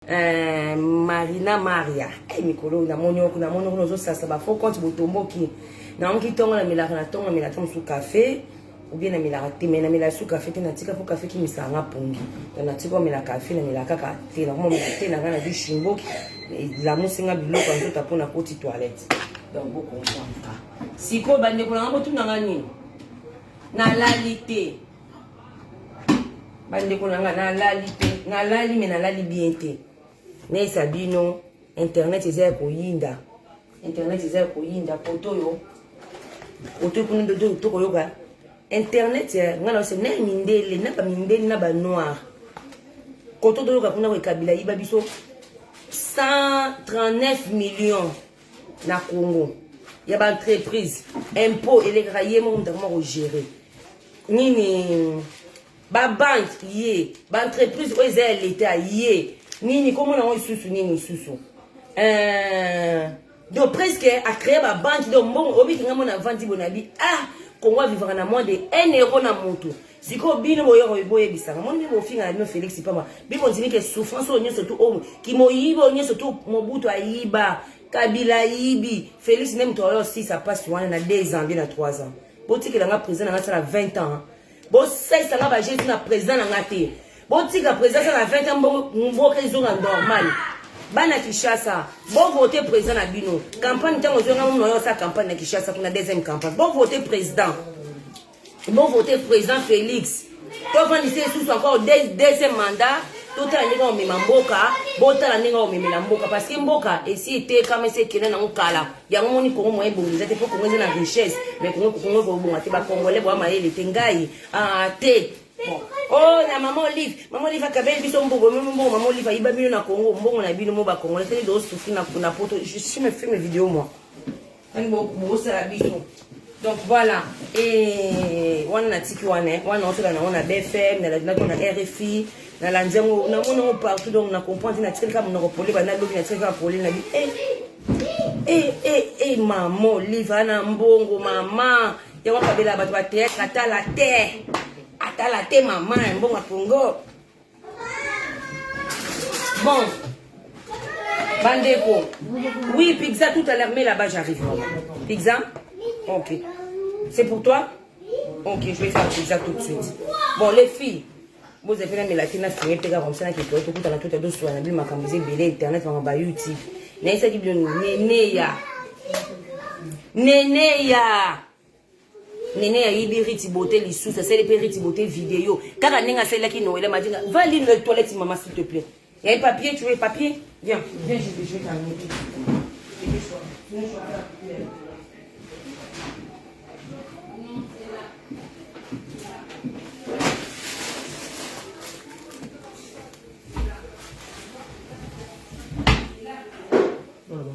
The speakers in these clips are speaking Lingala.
Euh, marina maria hey, eh, mikolo namoni oku namoni oku nozosasa bafaux compte botomboki naoki ntongo namelaka na ntongo namela ta mosusu kafe obie namelaka te mai namela su kafe te natika mpo kafe kimisanga pongi to natika omela kafe namela kaka te nakomomela te na ngai nazwi shimboki elamusi ngai biloko ya nzoto mpo nakoti toilette donc bokonfamka sikoyo bandeko na ngai botuna ngai nini nalali te bandeko na nga nalali te nalali me nalali bien te nayesa bino internet eza ya koyinda internet eza ya koyinda poto oyo poto kuna tokoyoka internet nga na na mindele na bamindele na banoir koto toyoka kuna koekabila yiba biso 139 million na congo ya baentreprise impôt elekaka ye moko moto akoma kogere nini babanke ye baentreprise oyo eza ya leta ye nini komona yango lisusu nini lisusu euh, donc presque acree babanke donc mbongo obikinga mona avandi bonabi ah kongo avivaka na moins de 1 euro na motu sikoyo bino boyoko boyebisaka moni mpe bofingana bino félix pamba bibondimi ke souffrance oyo nyonso tu oyo kimoyibi oyo nyonso tu mobutu ayiba kabila ayibi félix nde moto ayo osisa mpasi wana na 2 ans mpe na 3 ans botikela nga président na nga asala 20 ans bosalisa nga bajeti na président na nga te botika président asala 20 ans mboka ezonga normal bana kinshasa bovote président na bino campagne ntango ozonga mono yo osala campagne na kinshasa kuna deuxième campagne bovote président bovote président félix tofandisa esusu encore deuxième mandat totala ndenge omema mboka botala ndenge omemela mboka parce que mboka esi etekama esi ekenda nango kala yango moni kongo moyen ebongi eza te mpo kongo eza na richesse mais kongo kongo ekobonga te bakongole boya mayele te ngai ah, te bon oh na mama olive mama olive akabeli biso mbongo meme mbongo mama olive ayiba bino na kongo mbongo na bino mo bakongole teni dosufri na poto je suis me fait mes vidéo moi tani bosala biso Donc voilà, et wana na tiki wana, hein. wana otala na wana BFM, na la ko na RFI, na la nzango, na mona ngo partout donc na comprendre na tiki kama na ko pole ba na lobi na tiki kama pole na bi. Eh eh eh eh maman, liva na mbongo maman. Yango kabela bato ba théâtre atala te. Atala te maman, mbongo Congo. Bon, bandeko. Oui, pizza tout à l'heure, mais là-bas j'arrive. Pizza Ok. C'est pour toi Ok, je vais faire pizza tout de suite. Bon, les filles. vous avez bozepela melaki na finge mpeka komisa na kekeo tokutana tuta tosula na bino makambo eza ebele internet mama ba youtube nayesaki bino neneya neneya nene ayibi riti bote lisusu asali mpe riti bote video kaka ndenge asalelaki noela madinga va lire le toilette mama s'il te plaît il y a un papier tu veux papier viens viens je vais je vais t'amener Voilà.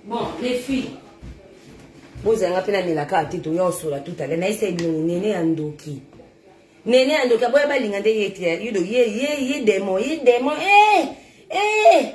Bon, les filles. bozala nga mpe namelaka ya tito ya osola tutale nayesa ebino nene ya ndoki nene ya ndoki aboya balinga nde ye te ye ye ye demo ye demo e eh, e eh.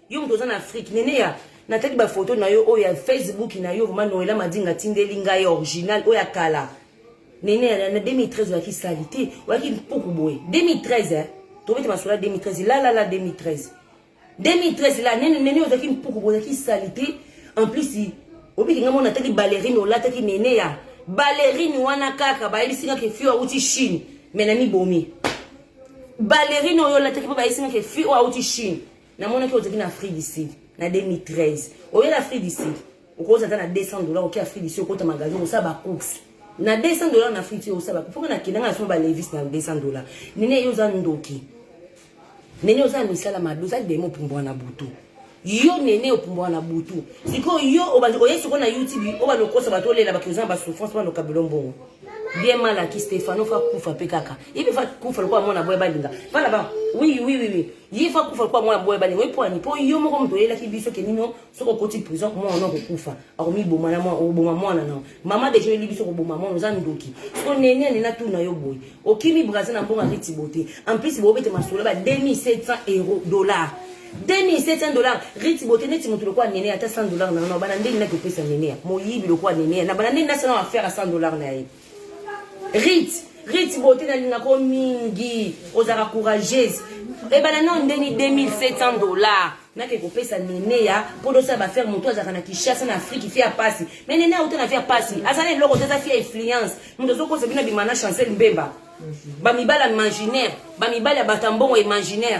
Yo moto oza na Afrique, Neneya, natali ba photo na yo oyo ya Facebook na yo, vraiment Noëlla Madinga atindeli ngai original oyo ya kala. Neneya na 2013 oyaki sali te, oyaki mpuku boye. 2013 eh, tobete masolo ya 2013, la la la 2013. 2013 la nene nene ozaki mpuku boye ozaki sali te. En plus obiki ngai mona atali ballerine olataki Neneya. Ballerine wana kaka bayebisi ngai ke fio awuti Chine, mais na mibomi. Ballerine oyo olataki mpo bayebisi ngai ke fio awuti Chine. namonaki ozalaki na afrique du sud na 2013 oye na afrique du sud okoza ata na 200 dollar oke afrique du sud okota magasin osala bacourse na 200 dollar na afrique du sud osala bacourse mpoka nakendanga na soma balevis na 200 dollar nene ye oza ndoki nene oza na misala mabe oza demo opumbwa na butu yo nene opumbwa na butu sikoyo yo oye sikoyo na youtube obanda okosa bato olela bato oza na basouffrance banda okabelo mbongo bien mal aki stefano fa kufa mpe kaka ipe fa kufa lokola mwana boye balinga bana ba oui oui oui oui ye fa kufa kwa mwana boya balingo epwani mpo yo moko moto oyelaki biso ke nino soki okoti prison mwana no kokufa akomiboma na mwana oboma mwana na mama deja oyeli biso koboma mwana oza ndoki soko nene nene atuna yo boye okimi brasil na mbonga ritibo te en plus bobete masolo ba 2700 euro dollar 2700 dollars riti bote neti moto lokola nene ata 100 dollars na yo na bana ndenge naki opesa nene moyibi lokola nene na bana ndenge nasala affaire ya 100 dollars na ye Rit, Rit bote nalingaka yo mingi, ozalaka courageuse. Ebana eh, nao ndeni 2700 dollars. nake kopesa nene ya mpo tosala bafere motu azalaka na kinshasa na afrike fia pasi me nene auta na fia pasi azala eloko te aza fia influence moto azokosa bino abima na chancel mbemba bamibali ya imaginaire bamibali ya bato ya mbongo imaginaire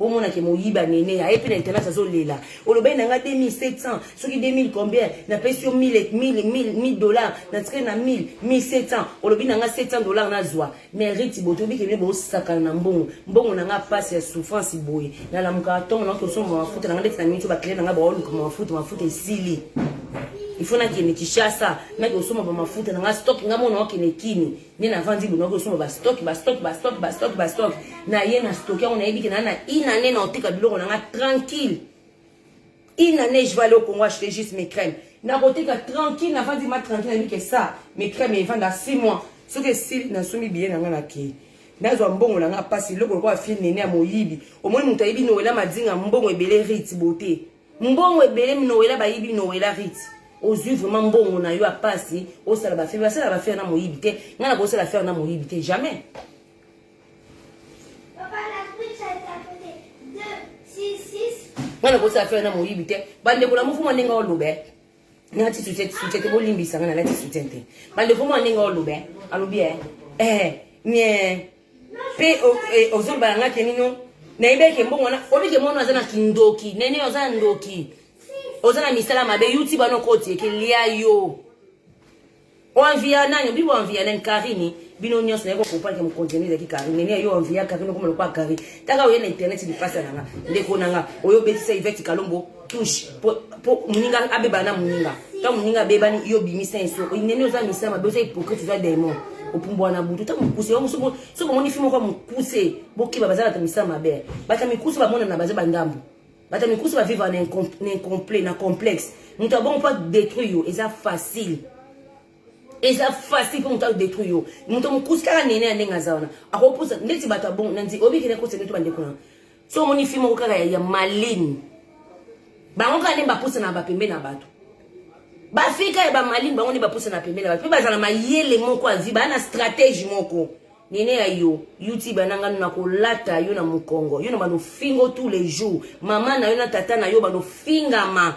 omona ke moyibi anene aye mpe na etalage azolela olobaki na nga 2700 soki 2000 combien napesi yo 1000 dollar natikali na 1000 1700 olobi na nga 700 dollar nazwa mais riti boye toyebi kebine bosakana na mbongo mbongo na nga mpasi ya souffrance boye nalamukaka ntongo na kosomba mafuta na nga ndeti na miniti bakile na nga baoluka mafuta mafuta esili ifo nakende kishasa nakosomba bamafuta na nga stock nga mona okende kini nde navandi loloko osomba bastock bastock bastock bastock bastock naye na stock yango nayebi ke naa na une année na oteka biloko na nga tranquille une année je vais aller au congo acheter juste mes crèmes nakoteka tranquille navandi ma tranquille nayebi ke sa mes crèmes evanda six mois soki esili nasombi biye na nga nakei nazwa mbongo na nga mpasi eloko lokola fie nene ya moyibi omoni moto ayebi noela madinga mbongo ebele rite bote mbongo ebele minowela bayibi nowela rite ozwi vraiment mbongo na yo apasi osala bafere basala bafere na moyibi te ngai nakosala fere na moyibi te jamais ngai nakosala fere na moyibi te bandeko na mofumo ndenge olobe nalati soutien soutien te bolimbisa nga nalati soutien te bandeko mwa ndenge oloba alobi e eh nie mpe ozoloba na nga ke nino nayebi eke mbongo wana oyebi ke mwana aza na kindoki nene oza na ndoki oza na misala mabe youtube wana okoti eke lia yo Oanvia nani obi oanvia nani Karine bino nyonso naye kokopa ke mokonzi yango ezalaki Karine nene yo oanvia Karine okoma lokola Karine taka oye na internet lipasa na nga ndeko na nga oyo obetisa Yvette Kalombo touche po moninga abeba na moninga ntango moninga abebani yo obimisa ye soko nene oza misala mabe oza hypocrite oza daimon opumbwa na butu ntango mokuse yango soki omoni fi moko ya mokuse bokeba bazalaka misala mabe bato ya mikuse bamonana baza bandambo bata mikusu ba vivre na incomplet na complexe moto abongo mpo adétruire yo eza facile eza facile mpo moto adétruire yo moto mokusi kaka nene ya ndenge aza wana akopusa ndeti bato abongo nandi obikende kosa ndeti bandeko na so omoni fi moko kaka ya maline bango kaka nde bapusana bapembe na bato bafika ya bamaline bango nde bapusana pembe na bato mpe bazala mayele moko avi baa na stratégie moko Neneya yo youtube na nga na kolata yo na mukongo yo na bano fingo tous les jours mama na yo na tata na yo bano fingama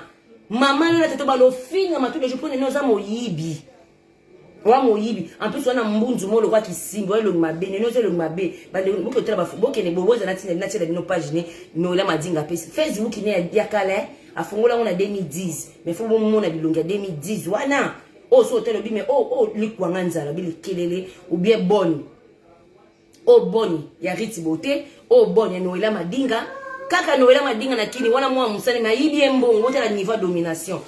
mama na yo na tata bano fingama tous les jours po nene oza moyibi wa moyibi en plus wana mbunzu mo lokwa kisimbo elongi mabe nene oza elongi mabe bandeko boke otala bafo bokende boboza na tina natyela bino page ne noela madinga apesi facebook ne ya kala afongola yango na 2010 mais fo bomona bilongi ya 2010 wana oyo so otali obi me oyo oh, oh, likwanga nzala obi likelele obie boni oyo oh, boni ya riti bote oyo boni ya noela madinga kaka noela madinga na kini wana mwana mosali me ayibi ye mbongo otala niveau ya domination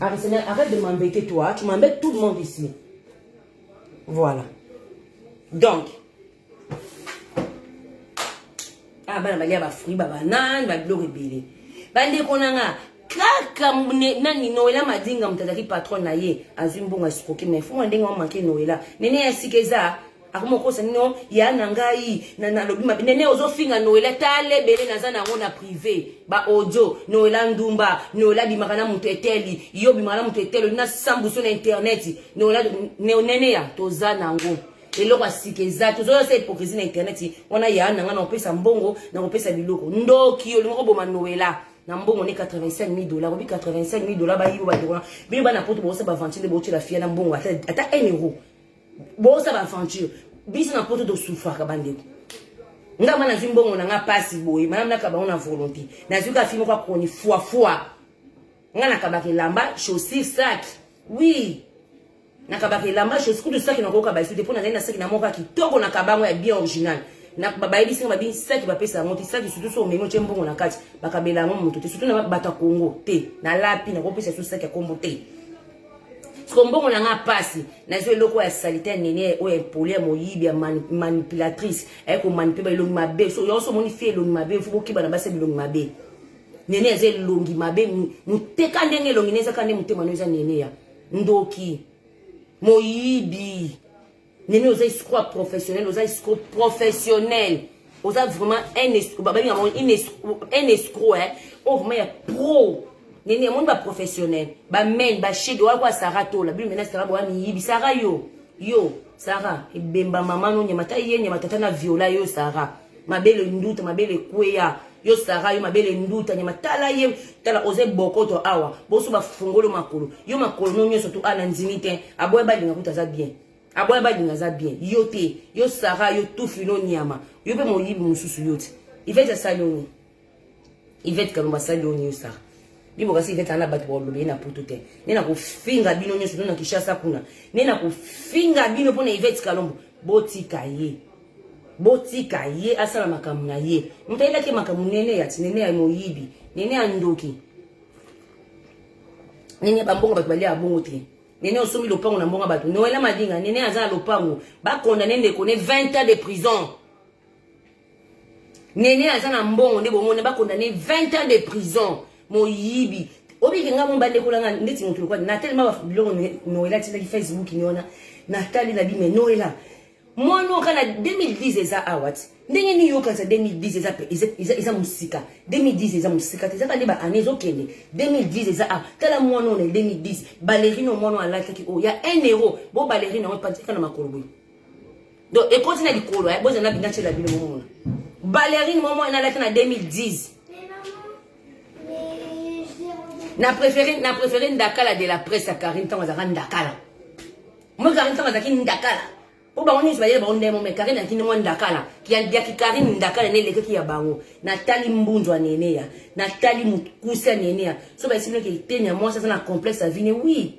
Arsenal, arrête de m'embêter toi, tu m'embêtes tout le monde ici. Voilà. Donc, ah bana balia ba fruits ba banane ba biloko ebele bandeko na nga kaka nani noela madinga moto azalaki patron na ye azwi mbongo ya sikoki mai fuma ndenge wamake noela nene ya sika eza akoma okosa nino ya na ngai nalobi mabe nene ozofinga noela tala ebele naza na yango na prive baaudio noela ndumba noela bimaka na moto eteli yo bimaka na moto eteli olina sambuso na interneti noela neneya toza na yango eloko ya sika eza te ozoya sa hypocrisie na internet wana ya na ngai nakopesa mbongo nakopesa biloko ndoki olingi koboma noela na mbongo ne 85 000 dollars obi 85 000 dollars bayibo bandeko wana bino bana poto bokosa baventure nde botyela fiya na mbongo ata 1 euro bokosa baventure biso na poto tosufraka bandeko nga ma nazwi mbongo na nga mpasi boye mana naka bango na volonté nazwi ka fi moko akroni fuafua nga nakabaka elamba chaussure sac oui nakabaka elamba chose kutu saki nakoyoka baisu te mpo nazali na saki na moko ya kitoko na kabango ya bien original bayebisi nga babi saki bapesa yango te saki sutu so omemi otye mbongo na kati bakabela yango moto te sutu na bato ya kongo te nalapi nakopesa su saki ya kombo te siko mbongo na nga pasi nazwi eloko ya salite ya nene oyo ya impoli ya moyibi ya manipulatrice aye komanipule baelongi mabe so yango so omoni fie elongi mabe fo bokeba na basi ya bilongi mabe nene aza elongi mabe moteka ndenge elongi ne ezaka nde motema no eza nene ya ndoki moyibi nini oza escroc professionnel oza escroc professionnel oza vraiment un escroc babalinga yango un escroc hein oyo oh, vraiment ya pro nini amoni baprofessionnel bamain bashege oya kwa sara tola bino mena sara boya miyibi sara yo yo sara ebemba mama no nyama ta ye nyama tata na viola yo sara mabele nduta mabele ekweya yo sara yo mabele nduta nyama tala ye tala oza ebokoto awa boso bafungolo makolo yo makolo no nyonso tu ana ndimi te aboya balinga kuta aza bien aboya balinga aza bien yo te yo sara yo tufi no nyama yo mpe moyibi mosusu yo te ifeti asali yo nini Yvette Kalumba asali yo nini osala bibo kasi Yvette ana bato bakoloba ye na putu te nde nakofinga bino nyonso no na Kinshasa kuna nde nakofinga bino mpo na Yvette Kalombo botika ye botika ye asala makambo na ye moto ayelaki makambo nene ya tinene ya moyibi nene ya ndoki nene ya bambongo bato balia ya bongo te nene osombi lopango na mbongo bato noela madinga nene aza na lopango bakondane ndeko ne 20 ans de prison Nene aza na mbongo nde bomona ba condamner 20 ans de prison moyibi obiki nga momba ndeko langa ndeti motu lokola na telema ba biloko noela tindaki facebook ni wana na tali na bime noela mwana oka na 2010 eza awa ti ndenge nini yokanisa 2010 eza pe eza eza musika 2010 eza musika te ezaka nde ba année ezokende 2010 eza awa tala mwana oyo na 2010 balerine oyo mwana oyo alataki oyo ya 1 euro bo balerine yango epanzika na makolo boye donc ekoti na likolo eh, bozala bina tyela bino momona balerine momo enalaki na 2010 na préféré na préféré ndakala de la presse ya karine ntango azalaka ndakala moi karine ntango azalaki ndakala mpo bango nyonso bayele bango ndemo me karine akini mwa ndakala yaki karine ndakala ne elekaki ya bango natali mbunzu ya nene ya natali mokuse ya nene ya so bayesiminoki eteni ya mwasi aza na complexe ya vine oui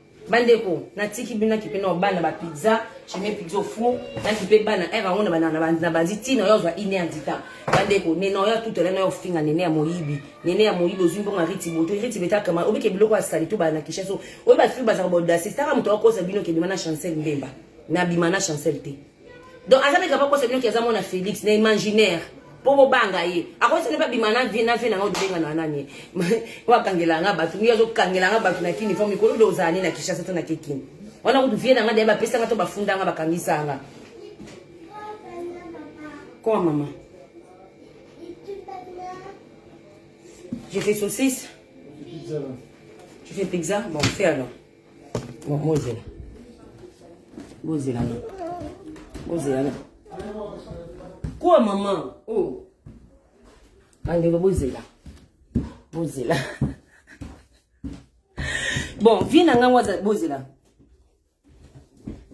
bandeko natiki bino nakipe na bana ba pizza cheme pizza au four nakipe bana ere yango na banzi ntina oyo azwa ine ya ndita bandeko nene oyo atutela nayo ofinga nene ya moyibi nene ya moyibi ozwi mbongo ya riti boto riti betakama obike biloko ya sali to bana na kishaso oyo bafi bazaka baodasi staka moto akokosa bino kebima na chancel mbemba nabima na chancel te donc aza meka pa kosa bino ki aza mwana felix na imaginaire mpo bobanga ye akosi nde babima na vie na vie nanga odobengana nani wakangela nga bato ngi azokangela nga bato na kini fo mikolo nde ozala ne na kishasa to na kekini wana kutu vie nanga deya bapesa nga to bafunda nga bakangisa nga koa mama je fais saucisse je fais pizza bon fais alors Bon, bozela bozela na bozela na kuwa mama o oh. bandeko bozela bozela bon vie na ngai waza bozela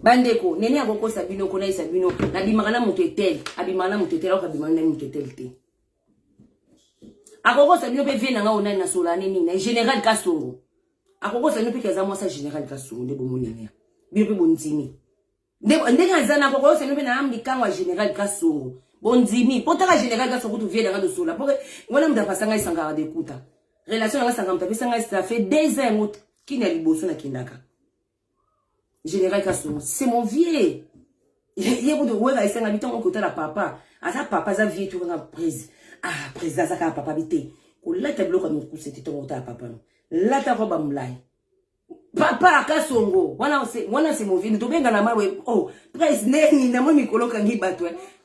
bandeko nene akokosa bino konaisa bino nabimaka na moto etele abimaka na moto etele akoka abimaka na moto etele te akokosa bino mpe vie na nga onani na sola ne nini na général kasongo akokosa bino mpe ke aza mwasi ya général kasongo nde bomonania bino mpe bondimi ndenge aza na kokosa bino mpe na yam likango ya général kasongo bondimi mpo taka général kasongo kutu vie na nga losola mpo wana moto apasa ngai sangaka dekuta relation na nga sangaka moto apesa ngai ça fait deux ans yango kini ya liboso nakendaka Général Kasongo, c'est mon vieux. Ye kutu wera esengami ntango okotala papa. Aza papa, aza vieux tokanga prise. Ah, président aza kaka papa bite. Kolata biloko ya mokuse te ntango okotala papa no. Lata roba mulayi. Papa Kasongo, wana c'est wana c'est mon vieux. Tobengana mawe. Oh, prise neni na mwa mikolo kangi bato.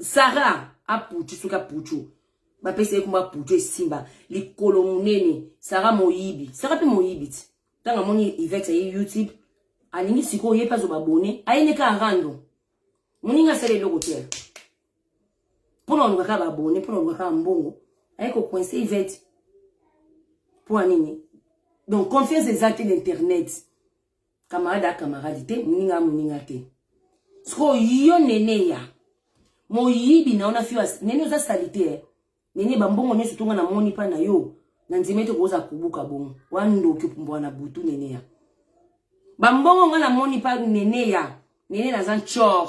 Sarah apuchu soki apuchu bapesa ye kuma puchu esimba likolo monene Sarah moyibi Sarah mpe moyibi ti ntango amoni Yvette aye YouTube alingi sikoyo ye mpe azoba bone aye nde kaka rando moningi asala eloko te mpo na oluka kaka babone mpo na oluka kaka mbongo aye kocoince Yvette mpo ya nini donc confiance eza te na internet Camarade a camarade te, muninga a muninga te. Siko yo nene ya. Moyibi na ona fiwa. Nene oza salite eh. Nene bambongo nyoso tonga na moni pa na yo. Na nzima ete koza kubuka bongo. Wa ndoki pumbwa na butu nene ya. Bambongo nga na moni pa nene ya. Nene na zan chor.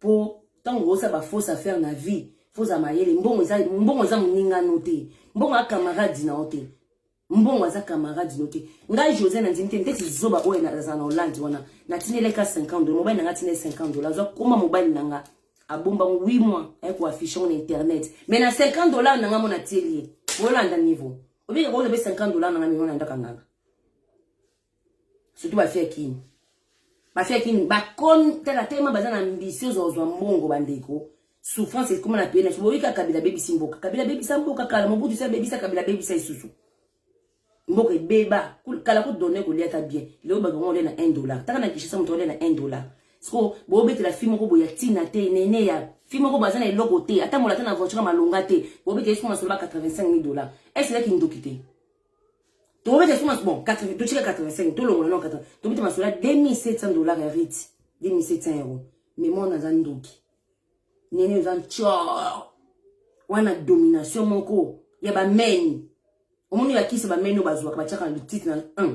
Po tango osa ba fausse affaire na vie, faut za mayele. Mbongo eza mbongo eza muninga no te. Mbongo a camarade na ote. Mbongo aza camarade no te. Ngai José na ndimi te ndeti zoba oyo na za na Hollande wana. Na tinele ka 50 dollars, mobali na nga tinele 50 dollars. Zo koma mobali na nga. Abomba 8 mois ay ko afficher na internet. Mais na 50 dollars na nga mona tieli. Bolanda niveau. Obika ko lobe 50 dollars na nga mona ndaka nganga. surtout ba fille kin ba fille kin ba kon tala tellement baza na ambition zo zo mbongo bandeko souffrance ekoma na pena boyi ka kabila bebisi mboka kabila bebisa mboka kala mobutu sa bebisa kabila bebisa isusu mboka ebeba kala ko donner ko liata bien leo ba bango na 1 dollar taka na kishisa moto na 1 dollar siko bobetela fi moko boya ntina te nene ya fi moko baza na eloko te ata molata na voiture malonga te bobetela siko masolo ba 85 000 dollars eselaki ndoki te tobeta suma bon totika 85 tolongola no 80 tobeta masolo ya 2700 dollars ya rite 2700 euro mais mwana aza ndoki nene oza ncor wana domination moko ya bameni omoni bakisi bameni oyo bazwaka batiaka na litite na 1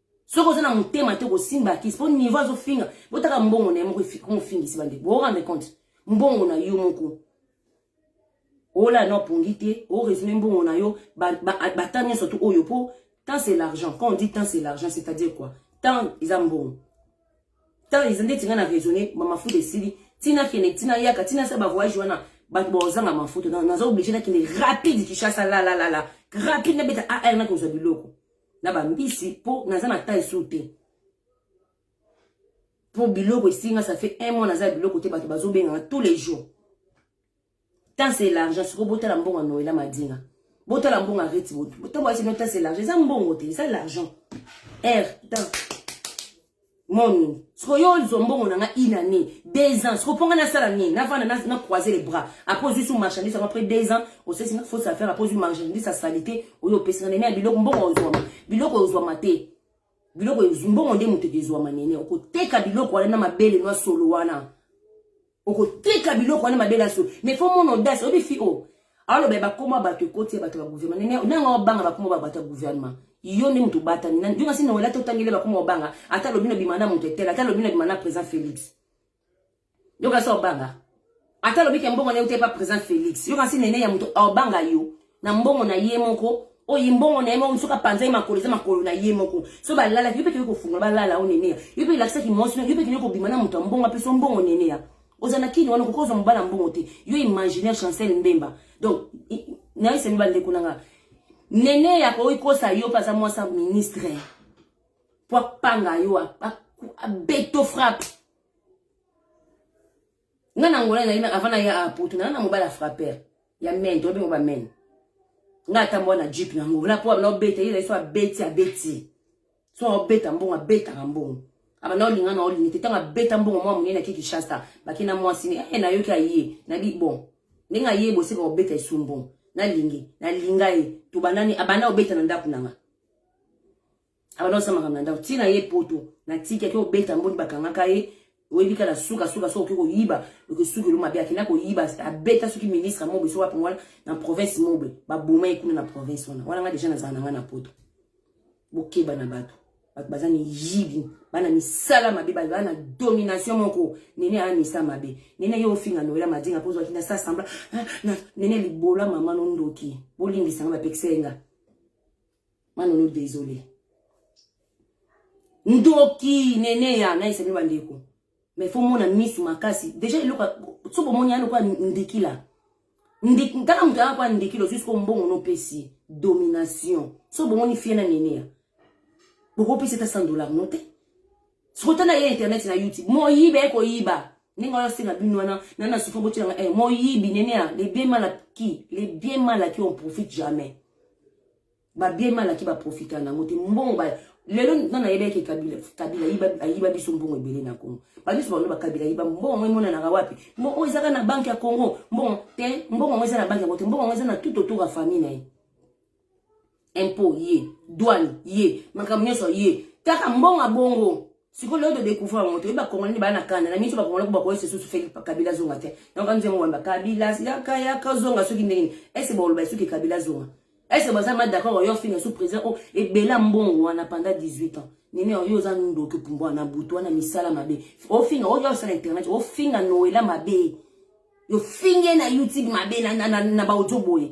soki oza na motema te kosimba kisi mpo niveau azofinga botaka mbongo na ye moko mofingisi bandeko boorande compte mbongo na yo moko ola na opongi te oresume mbongo na yo bata nyonso to oyo mpo temps c'est l'argent quand on dit temps c'est l'argent c'est à dire quoi temps eza mbongo temps eza ndeti ngai na raisonne bamafuta esili ntina kende ntina yaka ntina sa bavoyage wana bato baozanga mafuta naza oblige nakende rapide kishasa lalalala rapide nabeta ar nakozwa biloko na ba mbisi po naza na temps esu te po biloko esinga ça fait un mois naza biloko te bato bazobenganga tous les jours temps c'est l'argent sikoyo botala mbongo ya noela madinga botala mbongo ya reti botu ntango ayesi no temps c'est l'argent eza mbongo te eza l'argent r temps mon siko yo ozwa mbongo na nga une année deux ans siko mpo nga nasala nini navanda na, na croiser les bras après ozwi su marchandise yango après deux ans osesi nga fausse affaire après ozwi marchandise ya salite oyo opesi nga nene ya biloko mbongo ozwama biloko ozwama te biloko mbongo nde moto ekezwama nene okoteka biloko wana na mabele nwa solo wana Okoteka biloko wana mabe na so. Mais faut mon audace, obi fi o. Alors ben bakoma bato ekoti ya bato ya gouvernement. Nene nanga obanga bakoma ba bato ya gouvernement. Yo nde mutu bata ni. Yo ngasi na wala to tangele bakoma obanga. Ata lobino bimana mutu etela, ata lobino bimana président Félix. Yo ngasi obanga. Ata lobi ke mbongo na yo te pa président Félix. Yo ngasi nene ya mutu obanga yo. na mbongo na ye moko oyo mbongo na ye moko mosuka panza ye makolo eza makolo na ye moko so balalaki yo mpe kende kofungola balala o neneya yo mpe elakisaki mwasi yo mpe kende kobima na moto ya mbongo apesa mbongo neneya oza na kini wana kokozwa mobala ya mbongo te yo imaginaire chancel mbemba donc nayesemi bandeko na nga neneya akoki kosa yo mpe aza mwasi ya ministre mpo apanga yo abeto frappe nga na ngola ezali avant na ya apoto na na mobali ya frapper ya men to bengo ba men nga ata mwa na jeep na ngola po abana obeta ye ezali so abeti abeti so obeta mbongo abetaka mbongo abanda olinga na olingi te ntango abeta mbongo mwa monene ake kinshasa bake na mwasi ne e nayoki aye nabi bon ndenge aye boseka kobeta esu mbongo nalingi nalinga ye tobandani abanda obeta na ndako na nga abanda kosala makambo na ndako ntina ye poto na tiki ake obeta mboni bakangaka ye oyebi kaka na suka suka soki okoki koyiba okosuki elo mabe akenda koyiba abeta soki ministre mobe soki wapi wana na province mobe baboma ye kuna na province wana wana nga deja nazala na nga na poto bokeba na bato bato baza miyibi bana misala mabe baza na domination moko nene aa misa mabe nene ye ofinga noela madinga mpo ozwaki na sa sembla ah, nene libola mama nondoki bolimbisa nga bapekisa ye nga Manono désolé. Ndoki nene ya na esemi bandeko. Mais faut mona misu makasi. Déjà eloko so bomoni ya lokola ndikila. Ndik ntaka moto ya kwa ndikilo jusqu'au mbongo no pesi domination. So bomoni fie na nene ya. Boko pesi ta 100 dollars no te. Sikoyo na ye internet na YouTube. Moyibi aye koyiba. Ndenge wana senga bino wana na na sufa botela nga eh moyibi nene ya le bien mal acquis, le bien mal acquis on profite jamais. Ba bien mal acquis ba profita na ngote mbongo ba lelo na na yebeke kabila kabila yiba ayiba biso mbongo ebele na Congo. Ba biso ba kabila yiba mbongo mwe mona na wapi? Mbongo ezaka na banque ya Congo. Mbongo te mbongo mwe eza na banque ya ngote mbongo mwe eza na tout autour ya famille na ye. impôt ye douane ye makambo nyonso ye kaka mbonga bongo sikoyo lelo todecouvre yango toyebi bakongolai nde baa na kanda na miso bakongolai bakoyesa susu feli kabila zonga te yango kanzi yango wamba kabila yaka yaka zonga soki ndenge nini ese baoloba esuki kabila zonga ese baza ma d'accord oyo finga su président oyo ebela mbongo wana panda 18 ans nini oyo oza ndoki pumbwa na butu wana misala mabe ofinga oyo osala internet ofinga noela mabe yo finge na youtube mabe na, na, na, na baodio boye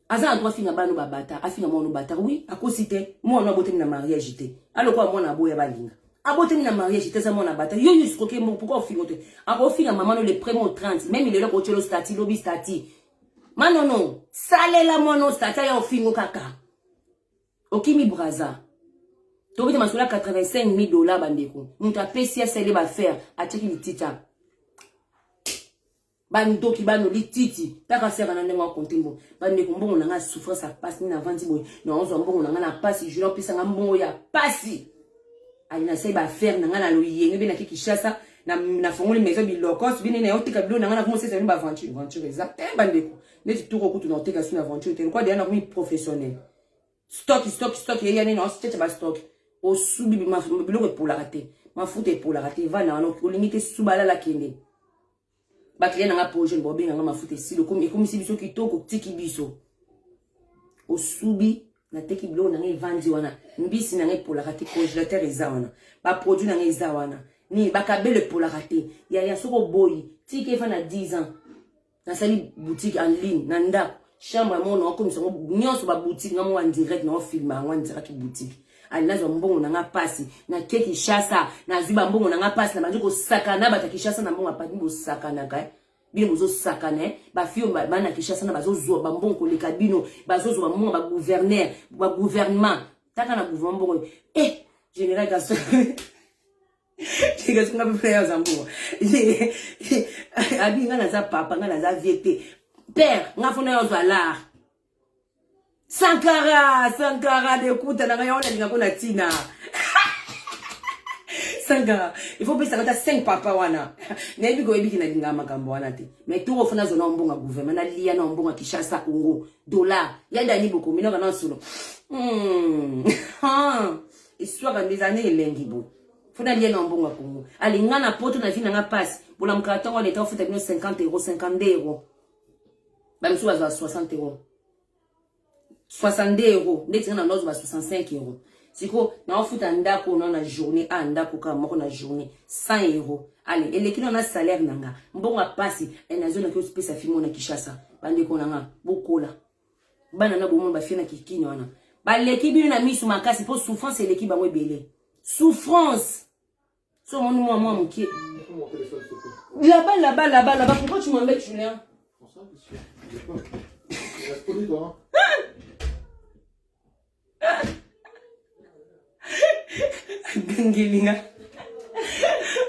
aza na droit finga bano babata afinga mwana obata oui akosi te mwana abotami na mariage te alokola mwana aboya balinga abotami na mariage te aza mwana abata yo yuskoke moko pourkoi ofingo te akofinga mama no le premier 30 meme lelo akotyelo stati lobi stati manono salela mwana stati aya ofingo kaka okimi braza tokoki te masolo ya 85 000 dollar bandeko moto apesi asali bafere atyaki litita bandoki bano lititi taka sera na ndenge akonte mbongo bandeko mbongo na ngai ya souffrance ya mpasi nini avandi boye naozwa mbongo na ngai na mpasi juna opesa ngai mbongo ya mpasi ali nasali baaffaire na ngai na loyenge mpe naki kinshasa nafongoli maison bilokos bine naye oteka bilo na ngai nakomosesa bino baaventure venture eza te eh, bandeko neti toko kutu na oteka sino aventure te lokwa deya nakomi professionnel stock stock stock yeya nini naoceca bastock osubi biloko epolaka te mafuta epolaka te vana wana olingi te subalala kende bakile na nga po jeune baobenga nga mafuta esili ekomisi biso kitoko tiki biso osubi nateki biloko na ngai evandi wana mbisi na ngai epolaka te congélateur eza wana baproduit na ngai eza wana nini bakabelo epolaka te yaya soki oboyi tika efa na 10 ans nasali boutique en ligne na ndako chambre yango na okomisa ngo nyonso ba boutique nga mwa direct na ofilma yango direct boutique ali nazwa mbongo na nga pasi na ke Kinshasa nazwi ba mbongo na nga pasi na bandi kosakana bata Kinshasa na mbongo apati bosakanaka eh? bino bozosakana eh? bafio bana Kinshasa na bazozwa ba mbongo koleka bino bazozwa ba mbongo ba gouverneur ba gouvernement taka na gouvernement mbongo eh general kaso ndenge soki nga mpe frere aza mbongo abi nga naza papa nga naza vie te père nga fona yo ozwa lar sankara sankara dekuta na nga yango nalinga ko na ntina sankara il faut opesaka ata 5 papa wana nayebi koyebiki nalingaka makambo wana te mais toko fona azwa na mbongo ya gouvernement naliya na mbongo ya kishasa congo dollar ya dani bokomi noka na nsolo hmm. eswaka nde ezala nde elengi boye fo nalia na mbongo ya kongo alinga na poto na vi na nga mpasi bolamukaka ntango wana eta ofuta bino 50 euro 52 euro bamisusu bazwa 60 euro 62 euro ndeti nga na lozo ba 65 euro sikoyo naofuta ndako na na journée a ah, ndako kaka moko na journée 100 euro ale eleki na na salaire na nga mbongo ya mpasi eh, nazonaki osipesa fimo na kinshasa bandeko na nga bokola bana na bomona bafie na kikini wana baleki bino na misu makasi mpo souffrance eleki bango ebele souffrance so omoni mwa mwa moke laba laba laba laba pourquoi tu m'embêtes julien gangelinga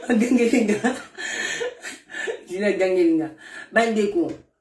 gangelinga julien gangelinga bandeko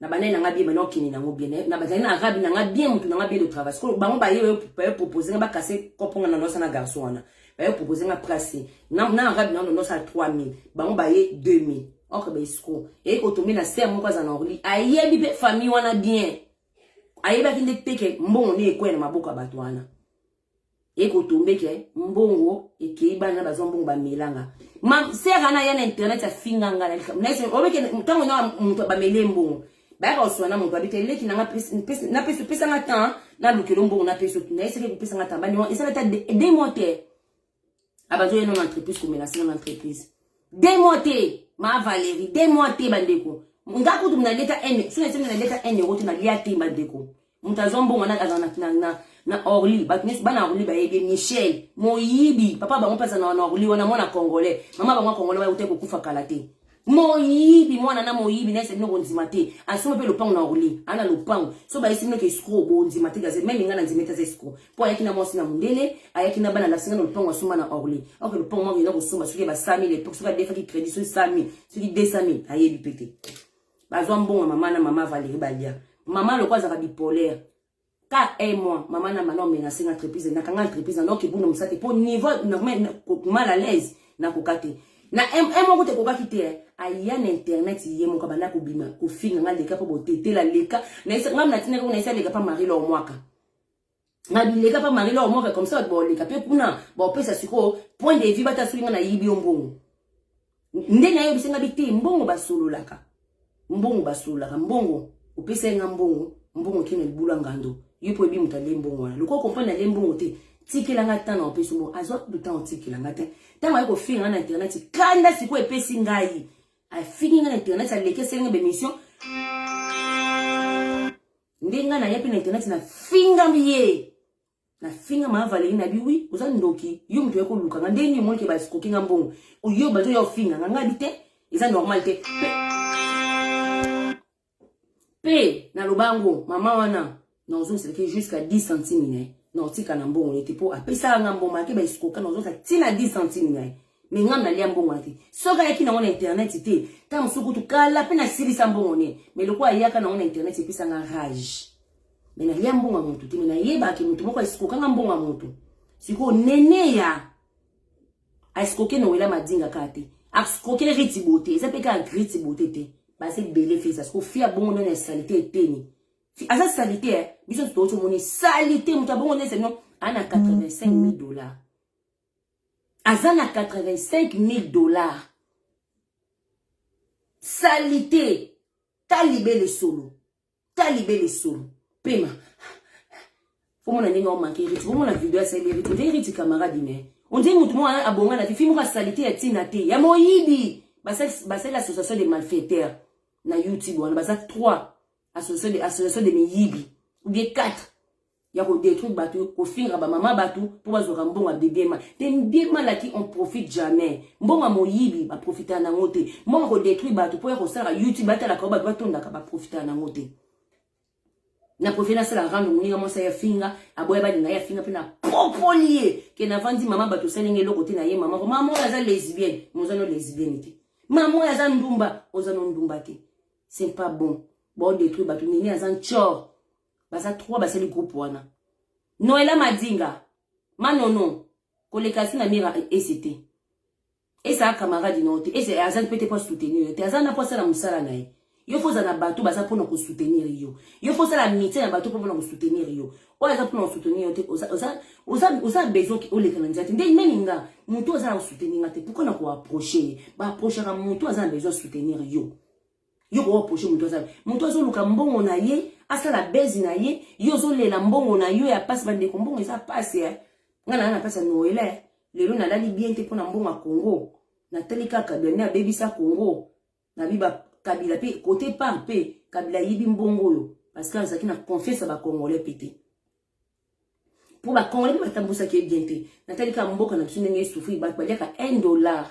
na banani na nga bien maintenant okende nango bien eh, na bazali na arabe na nga bien motu na nga bien de travail sikoyo bango baye baye propose nga bakase kopo nga na nosa na garçon wana baye propose nga prase na, na arabe na nosa ya 3000 bango baye 2000 okre baesiko eye kotombe na ser moko aza na orli ayebi mpe famille wana bien ayebaki nde teke mbongo nde ekwea na maboko ya bato wana ekotombe ke mbongo ekei bana bazwa mbongo bamelanga ma sere ana ya na internet afinga nga na likambo naye obeke ntango na moto bamele mbongo bayaka koswana na moto abite leki nanga napesi opesa nga temps nalukelo mbongo napesi naye soki ekopesa nga temps bani wana esala ata de mois te abazo ye nona entreprise komenase nona entreprise de mois te ma valerie de mois te bandeko nga kutu mna leta ene so na sena leta ene wote na lia te bandeko moto azwa mbongo na azala na na na orly bato nyonso bana orly bayebi michel moyibi papa bango mpe azala na orly wana mwana congolais mama bango ya congolais bayeuta kokufa kala te moyibi mwana na moyibi na esali noko ndima te asomba mpe lopango na orly ana lopango so bayesi noki escro bondima te gaze meme nga na ndima ete aza escro mpo ayaki na mwasi na mondele ayaki na bana lasinga na lopango asomba na orly oke lopango mwa kenda kosomba soki basami lepo soki adefaki crédit soki sami soki desami ayebi mpe te bazwa mbongo mama na mama valérie balia mama loko azalaka bipolaire ka un mois mama na mana omenase nga entreprise nakanga entreprise nanoki ebuna mosate mpo niveau normal mal à l'aise nakoka te na un moko te ekokaki te eh. aya na internet ye moko abanda kobima kofinga nga leka mpo botetela leka nga natinaki ngo naisa leka mpa marie lor mwaka na bileka mpa marie lor mwaka comme ça bato baoleka mpe kuna baopesa sikoyo point de vue bata soki nga nayibi yo mbongo nde nayebisi nga bite mbongo basololaka mbongo basololaka mbongo opesaki nga mbongo mbongo kino libula ngando yo mpo ebi moto alie mbongo wana lokola okomprendre alie mbongo te tikela nga ntan na opesi mbongo azwa kutu ntan otikela nga te ntango aye kofinga nga na internet kanda sikoyo epesi ngai afingi nga na internet alekeseli nga bemission nde nga naye mpe na internet nafingami ye na finga ma Valérie na bi oui oza ndoki yo mutu yako luka nga ndenge moni ke ba skoki nga mbongo oyo bazo yo finga nga ngabi te eza normal te pe pe na lobango mama wana na ozo seleke jusqu'à 10 centimes ne na otika na mbongo ne te po apesa nga mbongo ake ba skoka na ozo sa tina 10 centimes ne me nga na lia mbongo te soki ayaki na ngona internet te ta musuku tu kala pe na silisa mbongo ne me lokola ayaka na ngona internet epesa nga rage me nalia mbongo ya motu te me nayebaki motu moko aeskokanga mbongo ya motu sikoyo neneya aeskoke nowela madinga kaka te askoke riti bote eza mpe kaka griti bote te baza ebele feza sikoyo fi abongo nani ya salite eteni aza salite eh? biso totoki omoni salite moto abongo nani seno aza na 85 000 dollars aza na 85 000 dollars salite talibele solo ta libe lisolo pema omona ndenge omanke eriti bomona video asali eriti nde eriti camarade ne ondie motu moko abonga na fifi moko asalite ya ntina te ya moyibi basali association de malfaiteur na youtube wana baza 3 association de miyibi ou bien 4 ya ko détruire batu kofinga ba mama batu mpo bazwaka mbongo ya bibiema te bibiema laki on profite jamais mbongo ya moyibi baprofitaka nango te mbongo ya kodétruire batu mpo ya kosalaka youtube batalaka yo bato batondaka baprofitaka nango te na profite nasala rando moninga mwasi ya finga aboya balinga ye afinga mpe na popoli ye ke navandi mama bato osali nge eloko te na ye mama ko mama oyo aza lesbienne moza no lesbienne te mama oyo aza ndumba oza no ndumba te c'est pas bon baodétruire bato nini aza ncor baza trois basali groupe wana noela madinga manono koleka si na mira ese te ese a camarade no te ese aza mpe te mpo asoutenir yo te aza na mpo asala mosala na ye yo fo oza na bato baza mpona kosoutenir yo yo fo osala mitie na bato mpo mpona kosoutenir yo oyo aza mpona kosoutenir yo te oza besoin oleka na nzela te nde nani nga motu aza na kosoutenir nga te pourkoi na koaproche ye baaprochaka motu aza na besoin soutenir yo yo ko reprocher mutu aza mutu azo luka mbongo na ye asala bezi na ye yo ozo lela mbongo na yo ya pasi ba ndeko mbongo eza pasi eh nga na na pasi noela eh lelo na lali bien te pona mbongo ya Congo na tali ka kabila ne abebisa Congo na biba kabila pe kote par pe kabila yibi mbongo oyo parce que azaki na confiance ya ba congolais pe te po ba congolais pe batambusaki ye bien te na tali ka mboka na biso ndenge esufri bato baliaka 1 dollar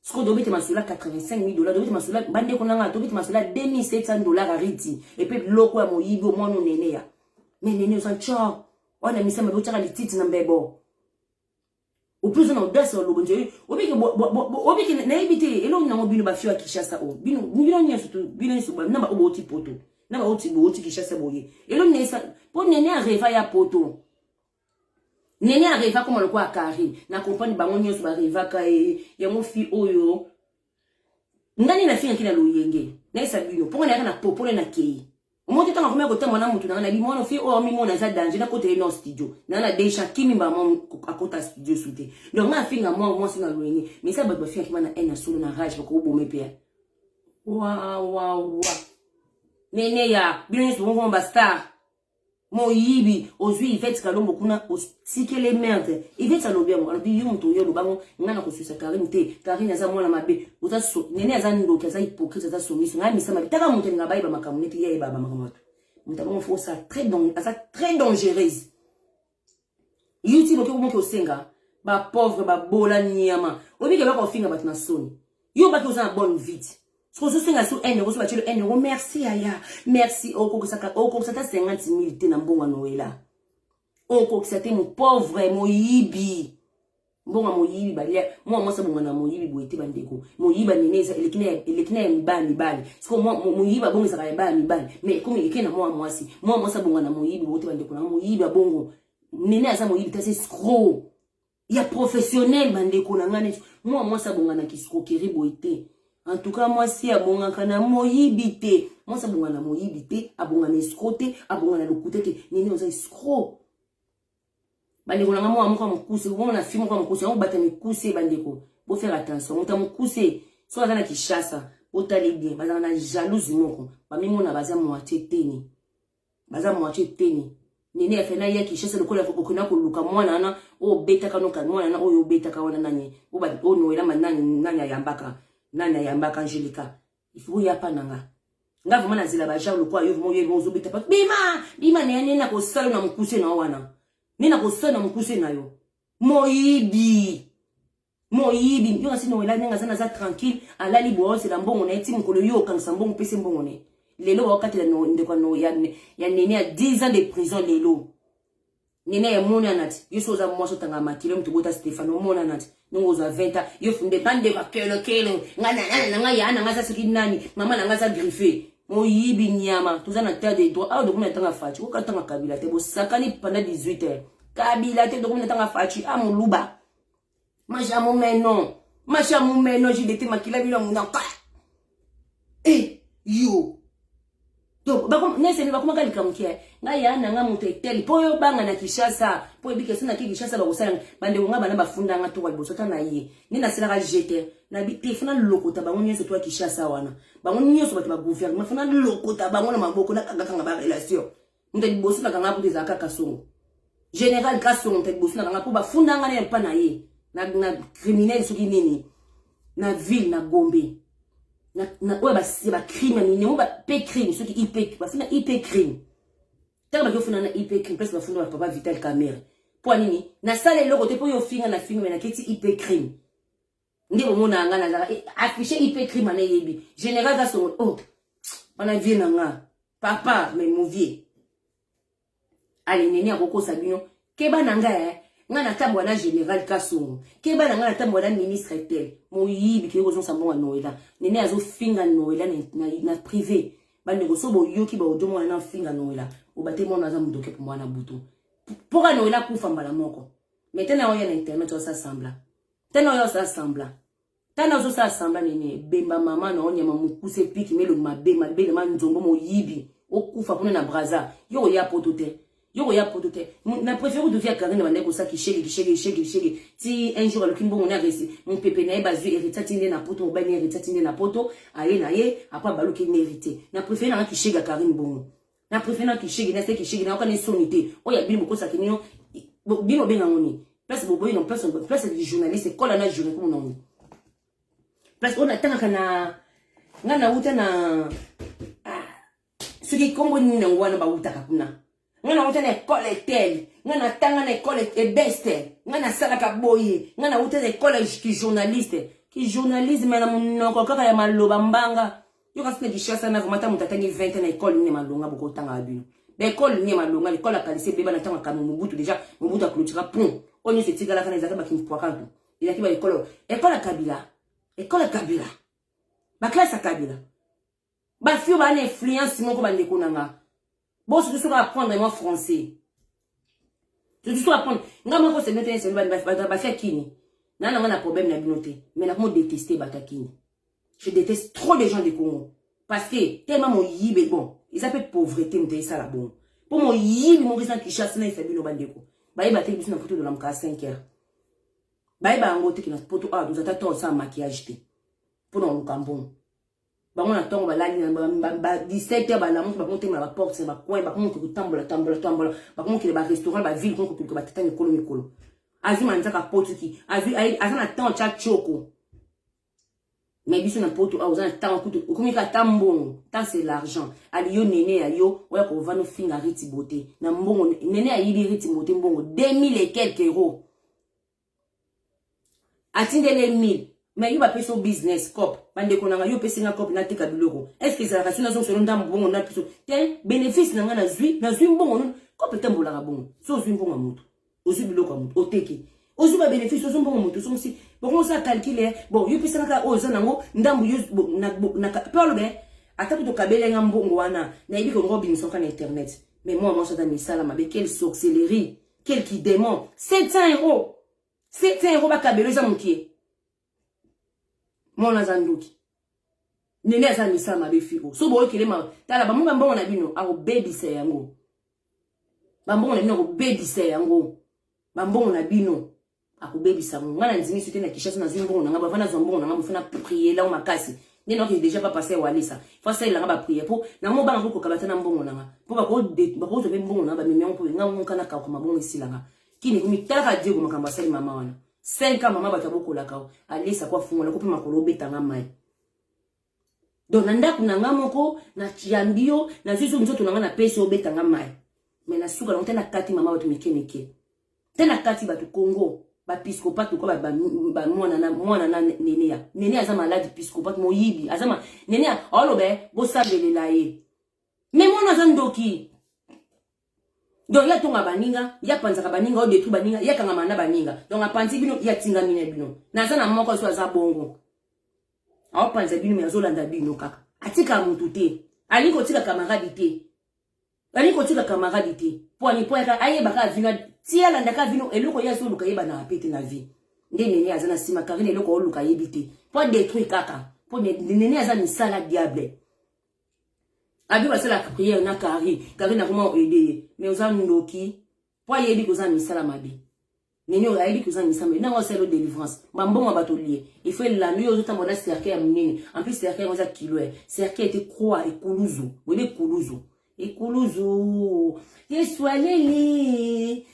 siko tobeti masolo ya 85000 dollars tobeti masolo bandeko na ngai tobeti masolo ya 2700 dollars ya riti epe biloko ya moyibi omwana onene ya me nene oza nco wana misa mabe otyaka lititi na mbebo oplusu na audace olobo nje obiki nayebi te elongi nango bino bafio ya kinshasa oyo bino bino nyonso tu bino nyonso na baoyo bouti poto na baoyo bouti kinshasa boye elongi nayesa mpo nene areva ya poto Nene areva koma lokola Carine. Na comprendre bango nyonso ba revaka ye. Yango fi oyo. Nani na fingaki na loyenge? Na esa bino. Ponga na yaka na popole na kei. Omoto tanga komeka kotamba na mutu nanga na bi mwana fi oyo ami mwana za danger na kotele no studio. Na na deja kimi ba mwa akota studio sute. Donc nga finga mwa mwa singa loyenge. Mais ça bato ba fingaki bana en solo na rage bako obome pe. Wa wa wa. Nene ya bino nyonso bongo ba star. Moyibi ozui Yvette Kalombo kuna otikele merde. Yvette alobi yango alobi yo moto yo oloba ngo nga na kosuisa Karine te. Karine aza mwana mabe. Oza so nene aza ndoki aza hypocrite aza songiso nga misa mabe. Taka moto nga bayeba makambo nete ye ayeba makambo. Moto abongo faut ça très donc aza très dangereuse. youtube oke komoki osenga bapauvre babola niama oyebiki eloko ofinga bato na soni yo obaki oza na bonne vite soki ozosenga so ene okosoba tilo ene o merci yaya merci okokisa ata 50 mil te na mbongo ya noela okokisa te mopauvre moyibi mbongo moyibi balia mwa mwasi abonga na moyibi boye te bandeko moyiba nene eza eleki na eleki na ya mibali mibali siko moyiba bongo ezaka ya baya mibali mais comme eleki na mwa mwasi mwa mwasi abonga na moyibi boye te bandeko na moyibi abongo nene aza moyibi kasi escro ya professionnel bandeko na ngai neti mwa mwasi abonga na kiscroquerie boye te en tout cas mwasi abongaka na moyibi te mwasi abonga na moyibi te abonga na escro te abonga na lokuta te nene oza escro bandeko na ngai mwana moko ya mokuse komona fi moko ya mokuse yango bata mikuse bandeko bofere attention moto ya mokuse soki aza na kishasa botali bien bazala na jalouse moko bamimona baza moitie teni baza moitie teni nene ya fena ya kishasa lokola okenda koluka mwana wana oyo obetaka noka mwana wana oyo obetaka wana nani oyo noela manani nani ayambaka nani ayambaka angelika il faut ya pa nanga nga vraiment na zela ba genre lokwa yo vraiment yo ozobeta pa bima bima ne ne na ko sala na mukuse na wana ne na ko sala na mukuse na yo moyibi moyibi yo kasi na wela nanga zana za tranquille alali boose la mbongo na ye ti mukolo yo okangisa mbongo pese mbongo ne lelo wakati la ndeko ya ya nene ya 10 ans de prison lelo nene emona nati yo so oza mwasi otanga makila moto bota stefano omona nati ndenge ozwa 20 ans yo funde nga ndeko akelokelo nga nanana na nga yaa na nga aza soki nani mama na nga aza griffe moyibi nyama toza na terre de droit awa dokomi na tanga faci oka tanga kabila te bosakani pendant 18 heures kabila te dokomi na tanga faci a ah, moluba Maja mumeno. Maja mumeno jidete makila bino munaka. Eh, yo. Donc bako nese ni bakoma kalika mukia. Eh. Nga ya na nga mutu eteli po yo banga na Kinshasa. Po ebike sina ki Kinshasa ba kosala bande nga bana bafunda nga to baliboso ta na ye. Ni na sila ka jete. Na bi te fana lokota bango nyoso to Kinshasa wana. Bango nyoso bato ba gouvernement fana lokota bango na maboko na kanga kanga ba relation. moto ya liboso na kanga kutu ezalaka kaka songo général grâce songo moto ya liboso na kanga mpo bafunda nga na mpa na ye na, na criminel soki nini na ville na gombe oyo bacrime ya minengo bape crime soki ip bafunda ip crime ntango baki ofunda na ip crime place bafunda bapapa vital camere mpo nini nasala eloko te mpo yo ofinga na finga me naketi ip crime nde bomonaka nga nazaka eh, affiche ip crime ana eyebi général za songo o oh, wana vie na nga papa me movie alineni akokosa bino keba na nga eh. nga natambwa na général kasongo keba na nga natambwa na ministre tel moyibi kei kozongisa mbongo ya noela nene azofinga noela na, na, na privé bandeko so boyoki baodio mwana na ofinga noela obate mwana aza modoke po mwana butu mpoka noela akufa mbala moko metana oya na internet osasambla tana oyo asala semblant tana ozosala semblant nini ebemba mama na onyama mokuse piki melongi mabe mabele ma nzombo moyibi okufa kuna na braza yo oya poto te yo koya poto te na préfère oduki ya karine bandaki kosala kishege kishege kishege kishege ti un jour aluki mbongo na resi mopepe na ye bazwi herita ti nde na poto mobali na herita ti nde na poto aye na ye apa baluki mérité na préfère nanga kishege ya karine bongo na préfère na kishigi na se kishigi na okane soni te oya bino bokosa kinyo bino benga ngoni place boboyi na place place du journaliste kola na journée comme non place on attend kana nga na uta na ah, soki kombo nini na ngwana ba uta kuna nga na uta na école telle nga na tanga na école ebeste nga na salaka boye nga na uta na école ki journaliste ki journalisme na monoko kaka ya maloba mbanga Yo kasi na Kinshasa na vraiment ta moto atangi 20 ans na école nini malonga boko tanga bino. Ba école nini malonga, l'école ya kalise beba na tanga kanu Mobutu déjà, Mobutu a clôtura pont. Onyo se tigala kana ezaka ba kimpwakatu. Ezaki ba école, école ya Kabila. École ya Kabila. Ba classe ya Kabila. Ba fio ba na influence moko ba ndeko na nga. Bon, surtout soki apprendre moi français. Surtout soki apprendre. Nga moko c'est noté c'est bani ba ba kini. Na na na problème na bino te. Mais na ko détester ba kini. Je déteste trop les gens du Congo parce que tellement mon yibe bon. Ils appellent pauvreté mais ça la bon. Pour mon yibe mon résident qui chasse na fait bino bandeko. Ba yeba te biso na photo de la mka 5 heures. Ba yeba ngo te ki na photo ah nous attendons ça maquillage te. Pour nous kambon. bango na ntongo balali ba 17 heure balamuki bakomotemela baporte na bacoin bakomoki kotambola tambola tambola bakomokele barestaurant baville komoki koluka batata mikolo mikolo azwi manzaka potuki aza na temps tya tioko mais biso na poto awa oza na ntango kutu okomi kaka ta mbongo ta se l'argent ali yo nene ya yo oya kovanda ofinga riti bote na mbongo nene ayibi riti bote mbongo 2000 et quelque euro atindeli ye 1000 mais yo bapesi yo business cop bandeko na ngai yo opesi nga cop nateka biloko est ce que ezalaka si nazongisa yo ndambo bongo na biso te bénéfice na ngai nazwi nazwi mbongo nini cop etambolaka bongo so ozwi mbongo ya moto ozwi biloko ya moto oteki ozwi babénéfice ozwi mbongo moto ozongisi bongo osala calcule bon yo pesaka kaka oyo oza nango ndambo yo mpe olobe ata kutu okabeli nga mbongo wana nayebi kongo obimisa oka na internet mais mwa mwasi ata misala mabe quelle sorcellerie Quel qui démon 700 euros 700 euros bakabelo eza mokie mwana aza ndoki nene aza misala mabe fiko so boyokelema tala bamo bambongo na bino akobebisa yango bambongo na bino akobebisa yango bambongo na bino akobebisa ngo nga na ndimi soki na kishasa nazwi mbongo na nga bavana zwa mbongo na nga bofana priye lango makasi nde naoki deja pa pasteur walesa fo asalela nga bapriere mpo nango obanga mpo kokaba ata na mbongo na nga mpo bakozwa mpe mbongo na nga bamemi yango mpo nga ngonka na kauka mabongo esila nga kini komitalaka diego makambo asali mama wana 5 ans mama bato abokolaka o alesa ko afungola ko mpe makolo obeta nga mai donc na ndako na nga moko na yambi yo nazwi zo nzoto na nga napesi obeta nga mai me na suka nango te nakati mama bato mike mike te nakati bato congo bapiskopate lokola bamwana na nenea nenea aza maladi piskopate moyibi aza ma nenea aoloba bosabelela ye me mwana aza ndoki donc ye atonga baninga ye apanzaka baninga oyo detruit baninga ye akangama na baninga donc apanzi bino ye atingami na bino naza na moko so aza bongo aopanza bino me azolanda bino kaka atika motu te alingi kotika kamaradi te alingi kotika kamaradi te mpo ani mpo yaka ayeba kaka vino ti alanda kaka vino eloko ye azoluka yebanaka mpe te na vie nde nene aza na nsima karine eloko aoluka ayebi te mpo adetruit kaka mpo nene aza misala diable Abi basala prière na Carrie. Carrie na comment aider ye. Mais oza ndoki. Po ayebi koza misala mabe. Nini oyo ayebi koza misala mabe. Nanga oselo délivrance. Ba mbongo bato liye. Il faut elando yo ozota mona cercle ya munene. En plus cercle yango eza kilo. Cercle était croix ekuluzu. Webe kuluzu. Ekuluzu. Yesu aleli.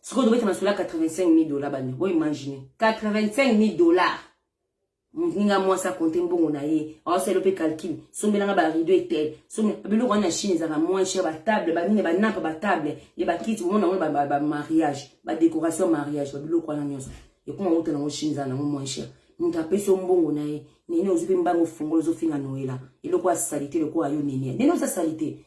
sikoyo tobeta masolo ya 85000 dola bani bo imagine 85000 dola moninga mwasi akonte mbongo na ye aosala mpe calcul sombelanga barido etel biloko wana na chine ezalaka moins cher batable banini banapa batable ya bakiti bomona yango bamariage badécoration ya mariage babiloko wana nyonso ekoma outa nango chine ezala nango moins cher moto apesi yo mbongo na ye nene ozwi mpe mbango fungolo ozofinga noela eloko ya salite lokola yo nene nene oza salite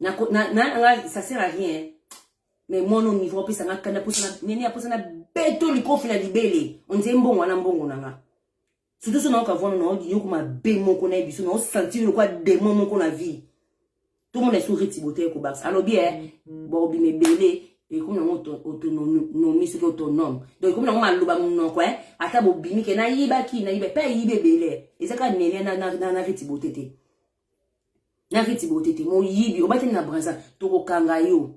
na na na nga ça sert à rien mais moi non niveau apesa nga kanda posa na nene aposa na beto likofi na libele on dirait mbongo wana mbongo na nga surtout so naoka vona na odi yoko mabe moko na biso na sentir lokwa démon moko na vie tout le monde est sur retibote ko bax alobi eh mm. bo bi mebele ekomi nango autonomie soki autonome donc ekomi nango maloba monoko e ata bobimi ke nayibaki nayiba mpe ayibi ebele eza kaka nene na retibote te na riti botete moyibi obateli na braza tokokanga yo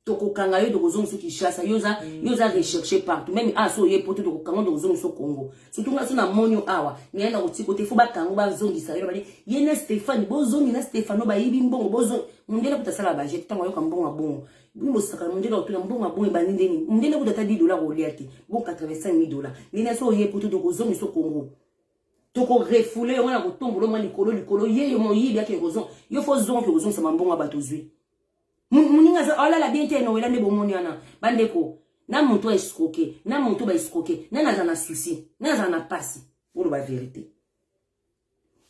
tokokanga yo tokozongiso kinshasa yo oza mm. yo oza recherche partout meme awa ah, so oye poto tokokanga tokozongiso congo surtout nga so na moni yo awa naye na kotiko te fo bakango bazongisa yo bade ye na stéphane bozongi na stéphano bayibi mbongo bozongi mondele kuta asala bajete ntango ayoka mbongo ya bongo bino bosaka mondele akotuna mbongo ya bongo ebandi ndeni mondele kuta ata 10 dola kolia te bo 85 dola ndeni aso oye poto tokozongiso congo toko refoule yango na kotombola mwa likolo likolo ye yo moyibi ake kozonga yo fo zonga ke kozongisa mambongo ya bato ozwi moninga aza alala bien te nowela nde bomoni wana bandeko na moto aescroke na moto baescroke nani aza na souci nani aza na mpasi oloba verité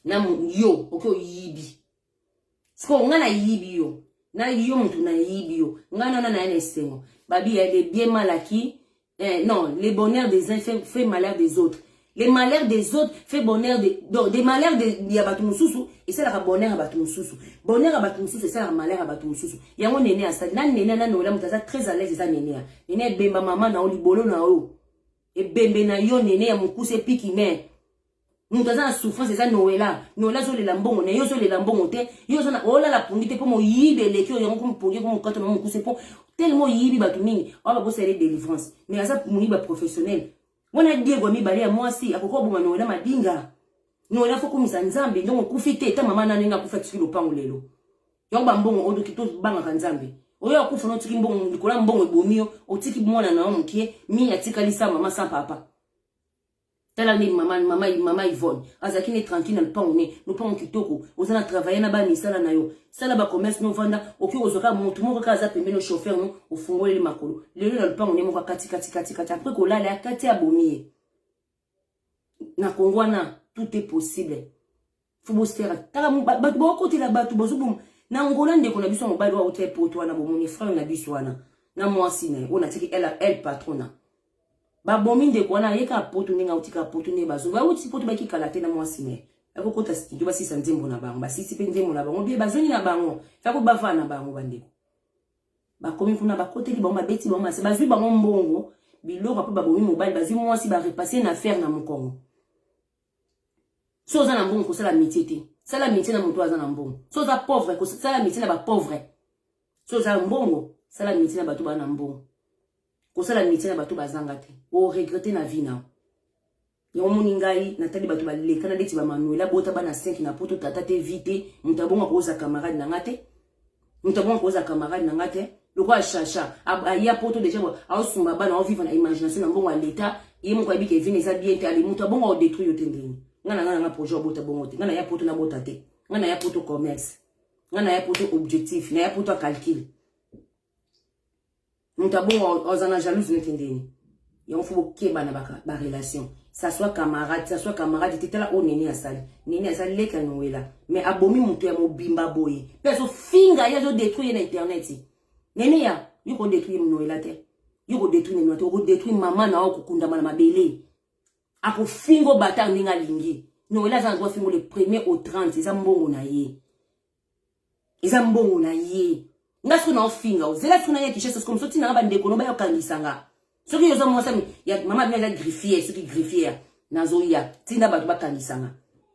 na yo oke oyibi sikoyo ngai nayibi yo na yo moto nayibi yo ngai nana naye na esengo babi ya de bien malaki eh, non le bonheur des uns fait, fait malheur des autres les malheurs des autres fait bonheur de, donc des malheurs de, ya bato mosusu esalaka bonheur ya bato mosusu bonheur ya bato mosusu esalaka malheur ya bato mosusu yango nene asali na nene na noela moto aza très à l'aise eza nene ya nene ebemba mama na yo libolo na yo ebembe na yo nene ya mokuse epiki me moto aza na souffrance eza noela noela azolela mbongo na ye ozolela mbongo te yo oza na olala pongi te mpo moyibi eleki oyo yango mpo mopongi mpo mokato na mokuse mpo telema oyibi bato mingi oyo babosala ye délivrance mais aza moyibi ya professionnel wana diego ya mibale ya mwasi akoki koboma noela madinga noela fo komisa nzambe ndongo okufi te ta mama nani nga akufi atiki lopango lelo yango bambongo oyo toki tobangaka nzambe oyo akufa na otiki mbongo likolo ya mbongo ebomi yo otiki mwana na yo mokie mingi atikali sa mama sa papa tala nde mama mama mama Yvonne azalaki ne tranquille na lupango ne lupango kitoko oza na travailler na ba misala na yo sala ba commerce no vanda oki kozwa kaka motu moko kaka aza pembeni chauffeur no ofungoleli makolo lelo na lupango ne moko akati kati kati kati après kolala akati abomi ye na kongo wana tout est possible fo bosera tala bato baokotela bato bozoboma na ngola ndeko na biso ya mobali oyo auta epoto wana bomoni frere na biso wana na mwasi na ye oyo natiki el patrona babomi ndeko wana aye kaka poto ndenge auti kaka poto ndenge bazo bauti poto bakikala te na mwasi na ye akokota studio basisa nzembo na bango basisi mpe nzembo na bango bie bazongi na bango fako bavaa na bango bandeko bakomi kuna bakoteli bango babeti bango masi bazwi bango mbongo biloko mpe babomi mobali bazwi mwasi barepase na affaire na mokongo so oza na mbongo kosala métier te sala métier na moto aza na mbongo so oza pauvre kosala métier na bapauvre so oza na mbongo sala métier na bato baa na mbongo kosala métier na bato bazanga te oregrete na vie nao yango omoni ngai natali bato balekana ndeti bamanuela bota bana 5 na poto tata te vi te moto abongo akozala camarade na ngai te moto abonga kozala camarade na nga te lokola chacha aya poto deja aosunga bana aoviva na imagination na mbongo ya leta ye moko ayebi kevine eza bien te ali moto abongo aodetruire yo te ndenge nga na nga na nga projet obota bongo te nga na ya poto nabota te nga na ya poto commerce nga na ya poto objectif na ya poto ya calcule moto abongo oza na jalouse nete ndeni yango fo bokeba na barelation ça soit camarade ça soit camarade te tala oyo nene asali nene asali leki ya nowela mais abomi moto ya mobimba boye mpe azofinga ye azodetruire ye na internet nene ya yo kodetruire nowela te yo kodetruire nenoa te okodetruire mama na yo kokundama na mabele akofingo batard ndenge alingi nowela aza na droit fingo le premier au 30 eza mbongo na ye eza mbongo na ye nga soki naofinga ozela soki naya kishasa soki mosoki nanga bandeko no bayokangisa nga soki oza mwasa ya mama bino aza griffier soki griffier nazoya tinda bato bakangisa nga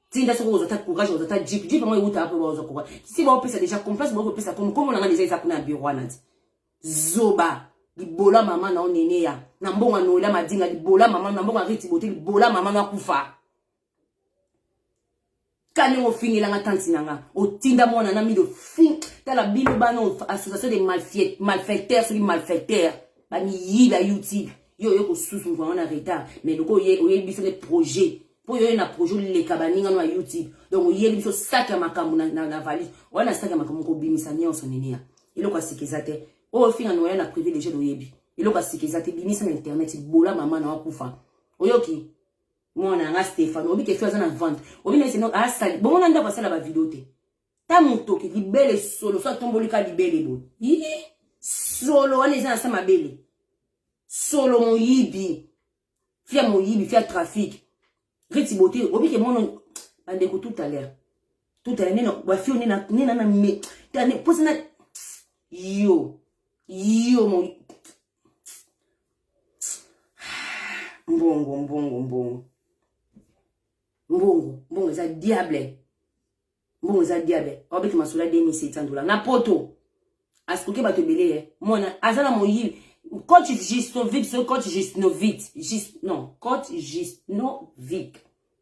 tinda soki ozwa ta courage ozwa ta jeep jeep yango ewutaka mpe baozwa courage si baopesa deja complace baokopesa komi nkombo na nga deja eza kuna ya biro wana ti zoba libola mama na oneneya na mbongo anoela madinga libola mama na mbongo ariti bote libola mama na kufa kani ofingelanga tanti na nga otinda mwana na mido fin tala bino bana association de malfecteur soki malfecteur bamiyibi ya youtube yo oye kosusu mvua wana retard mais loko oyebi biso nde projet mpo oye na projet oleka baninga no ya youtube donc oyebi biso saki ya makambo na valise wana saki ya makambo kobimisa nyonso niniya eloko ya sika eza te oyo ofinga noya na privé deja oyebi eloko ya sika eza te bimisa na internet bola mama na wakufa oyoki mwana yanga Stéphane obi ke fi aza na vente obi na seno asali bongo na ndako asala ba video te ta motoki libele solo so atomboli ka libele boye ii solo wana eza na sa mabele solo moyibi fi ya moyibi fi ya trafic riti bote obi ke mono bandeko tout à l'heure tout à l'heure nena bafi oyo nena nena na me tane posa na yo yo mo mbongo mbongo mbongo mbongo mbongo eza diable mbongo eza diable aobeta masolo ya 2700 dollars na poto asikoki bato ebele ye eh. mona aza na moyibi coach gistovic so coach gisnovic gis non coach gisnovic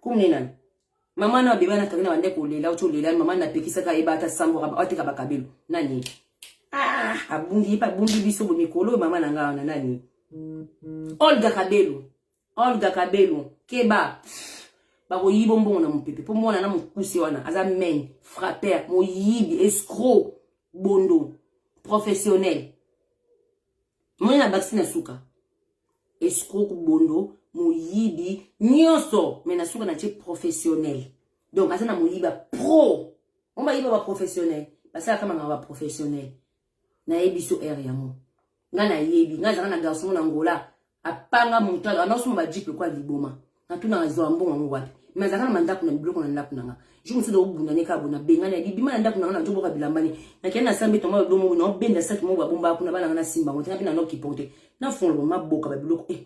kumne nani mama na bebe na kabina bande kolela uti olela mama na pekisaka yeba ata sambo ateka bakabelo nani ah abundi yepa abundi biso bo mikolo oyo mama na ngai wana nani olga kabelo olga kabelo keba bakoyiba mbongo na mopepe mpo mwana na mokuse wana aza main frapper moyibi escro bondo professionnel Moi na bakisi na suka. Escroc bondo moyibi nyonso mais na suka na tie professionnel. Donc aza na moyiba pro. On ba yiba ba professionnel. Basala kama na ba professionnel. Na yebi so heure yango. Nga na yebi, nga zaka na garçon na Angola. apanga moto anaosoma bajipe kwa liboma natuna azwa mbongo yango wapi me azalaka na mandako na biloko na ndako na nga jour mosusu okobunda ne kaka bona bengani libima na ndako na nga nazoboka bilamba ne nakende na sambe tongo lodo moko naobenda saki moko babomba kuna bana nga nasimba yango te nape na nokiporte nafongola maboka babiloko e eh,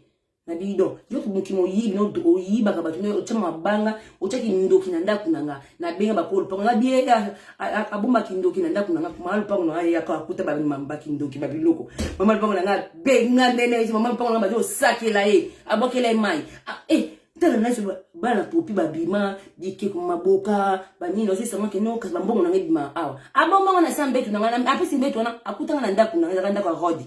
na bido yo moki moyibi oyibaka bato otyama mabanga otyaki ndoki na ndako na nga nabenga bakolo lupango na bie abombaki ndoki na ndako na nga mama lupango na nga ye akuta bamambaki ndoki babiloko mama lupango na nga benga ndene esi mama lupango na nga bazo osakela ye abwakela ye mai eh, tala nasi bana popi babima bikeko maboka banini ozosamaki no kasi bambongo na nga ebima awa abombanga na sa mbetu na nga apesi mbetu wana akutanga na ndako na nga ezaka ndako ya rode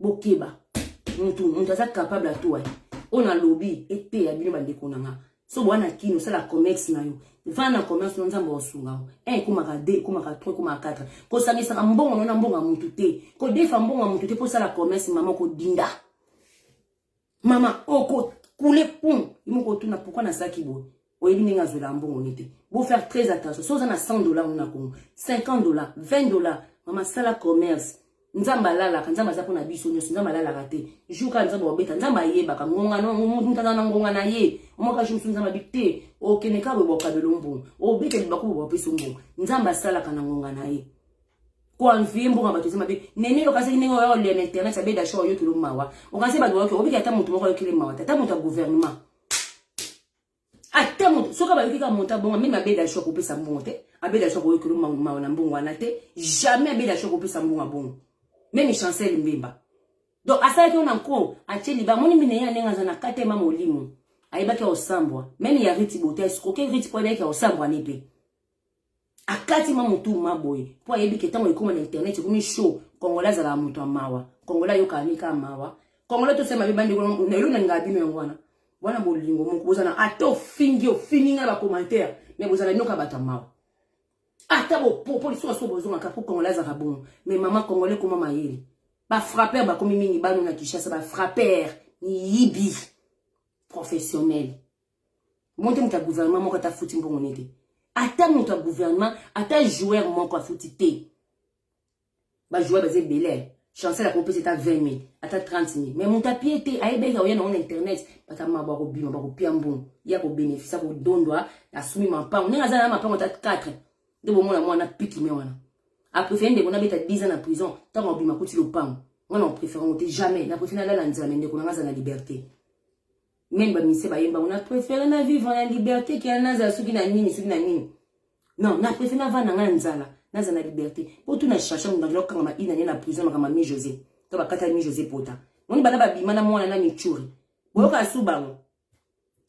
bokeba mutu mutu aza capable atoa ye oyo nalobi eteya bino bandeko na nga so boa na kini osala comex na yo vana na commerce no nzambe akosunga yo un ekomaka deux ekomaka trois ekomaka quatre kosangisaka mbongo no na mbongo ya mutu te kodefa mbongo ya mutu te mpo osala commerce mama kodinda mama oko kule pum imoko otuna pourquoi nazalaki boye oyebi ndenge azwelaka mbongo ni te bo faire très attention so oza na 100 dollar na congo 50 dollar 20 dollar mama sala commerce nzambe alalaka nzambe aza mpona biso nyonso nzambe alalaka te jour kaka nzambe wabeta nzambe ayebaka ngonganamutana na ngonga na ye omwaka jour mosusu nzambe abi te okende kaka boye bokabelo mbongo obeta libaku boye bopesa mbongo nzambe asalaka na ngonga na ye ko envie mboka bato eza mabe nene yo kasi ndenge oyo le internet abe dasho oyo kilo mawa okanse bato oyo obiki ata moto moko oyo kilo mawa ata moto ya gouvernement ata moto soki abayoki ka monta bongo meme abe dasho ko pesa mbongo te abe dasho ko kilo mawa na mbongo wana te jamais abe dasho ko pesa mbongo bongo meme chancel mbemba donc asalaki ona nko atie liba moni mine ya ndenge aza na katema molimo ayebaki ya osambwa meme ya riti bote escroke riti po ayebaki ya osambwa ne mpe akati ma mutu ma boye mpo ayebi ke ntango ekoma na internet ekomi show kongola azalaka moto ya mawa kongola ayokaka nini kaka mawa kongola tosala mabe bandeko na elo nalingaka bino yango wana wana bolingo moko bozana ata ofingi ofingi ngai na bacommentaire mais bozala bino kaka bato ya mawa ata bopopo lisusu aso bozongaka mpo kongola azalaka bongo mais mama kongola ekoma mayele bafrapper bakomi mingi bano na kinshasa bafrapper miyibi professionnel Monte moto ya gouvernement moko ata afuti mbongo ne te. Ata moto ya gouvernement, ata joueur moko afuti te. Ba joueur baza ebele. Chancel akopesa ata 20 000, ata 30 000. Mais moto apie te, ayebeki aoya nango na internet, bata mabo akobima, bakopia mbongo. Ye akobenefisa, akodondwa, asumi mampango. Ndenge aza na mampango ata 4, nde bomona mwana piki me wana. Aprefere ndeko nabeta 10 ans na prison, ntango abima kuti lopango. Mwana oprefere yango te, jamais. Naprefere nalala nzela, me ndeko nanga aza na liberte. meme ba musiciens bayemba on a préféré na vivre en liberté que nazala soki na nini soki na nini non na préféré na vanda nga nzala nazala na liberté po tu na cherche mutu na kanga ma ina na prison makama mi José to bakata mi José pota moni bana babima na mwana na michuri boyoka su bango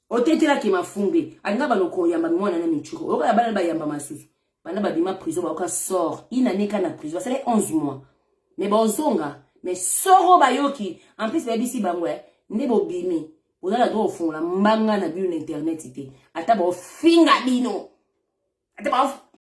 otetelaki mafumbe alinga bano koyamba mwana na michuri oyoka ya bana bayamba masusu banda babima prison bayoka sort une année ka na prison basala 11 mois mais bazonga mais soro bayoki en plus bayebisi bango eh, nde bobimi oza na droit ofungola mbanga na bino na internet te ata baofinga bino ata